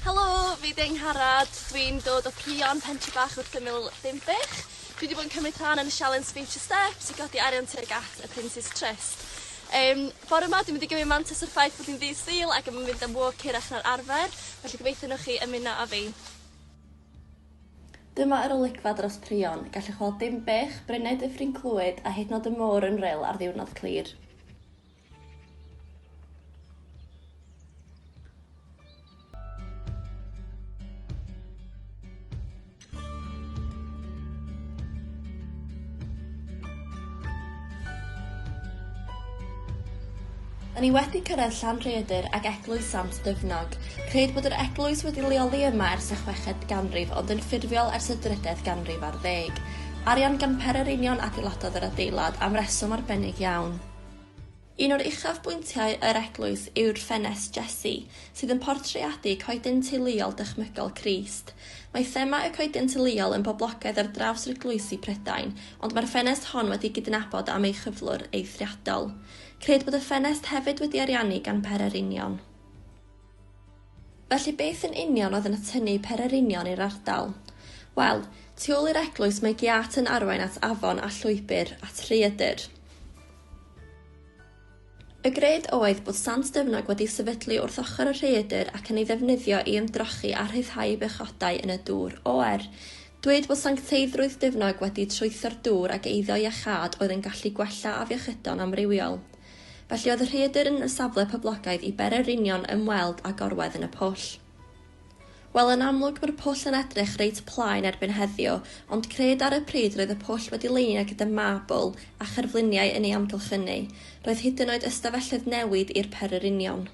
Helo, fi ydi Angharad, dwi'n dod o Pion, pentre bach wrth ymyl Dinbych. Dwi wedi bod yn cymryd rhan yn y sialens Speech a Steps i godi arian tuag at y Prince's Trust. Um, bore yma dwi'n mynd i gymryd mantes o'r ffaith bod hi'n ddydd Sul ac yn mynd am walk hirach na'r arfer, felly gobeithio nhwch chi ymuno â fi. Dyma yr olygfa dros Prion, gallwch weld Dinbych, Brynau Dyffryn Clwyd a hyd yn oed y môr yn ril ar ddiwrnod clir. O'n i wedi cyrraedd Llanrhaeadr ac eglwys Sant Dyfnog. Rhaid bod yr eglwys wedi leoli yma ers y chweched ganrif ond yn ffurfiol ers y drydedd ganrif ar ddeg. Arian gan Perereinion adeiladodd yr adeilad am reswm arbennig iawn. Un o'r uchafbwyntiau yr eglwys yw'r ffenest Jessi, sydd yn portreadu coeden teuluol dychmygol Crist. Mae thema y coeden teuluol yn boblogaidd ar draws eglwysi Prydain, ond mae'r ffenest hon wedi gydnabod am ei chyflwr eithriadol. Cred bod y ffenest hefyd wedi ariannu gan pererinion. Felly beth yn union oedd yn atynnu pererinion i'r ardal? Wel, tu ôl i'r eglwys mae giât yn arwain at afon a llwybr at Rhaeadr. Y gred oedd bod Sant Dyfnog wedi'i sefydlu wrth ochr y rhaeadr ac yn ei ddefnyddio i ymdrochi a rhyddhau bechgodau yn y dŵr. Oer. Dweud bod sancteiddrwydd Dyfnog wedi trwytho'r dŵr ac eiddo iachâd oedd yn gallu gwella afiechydon amrywiol. Felly oedd y rhaeadr yn y safle poblogaidd i bererinion ymweld â gorwedd yn y pwll. Wel, yn amlwg mae'r pwll yn edrych reit plaen erbyn heddiw, ond cred ar y pryd roedd y pwll wedi leinio gyda mabl a cherfluniau yn ei amgylchynu, roedd hyd yn oed ystafelloedd newid i'r pererinion.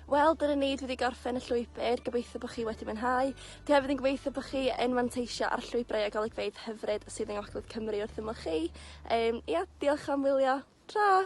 Wel, dyna ni, dwi wedi gorffen y llwybr, gobeithio bod chi wedi mwynhau. Dwi hefyd yn gobeithio bod chi yn manteisio ar llwybrau a golygfeydd hyfryd sydd yng Ngogledd Cymru wrth ymwch chi. Um, ia, diolch am wylio. Tra!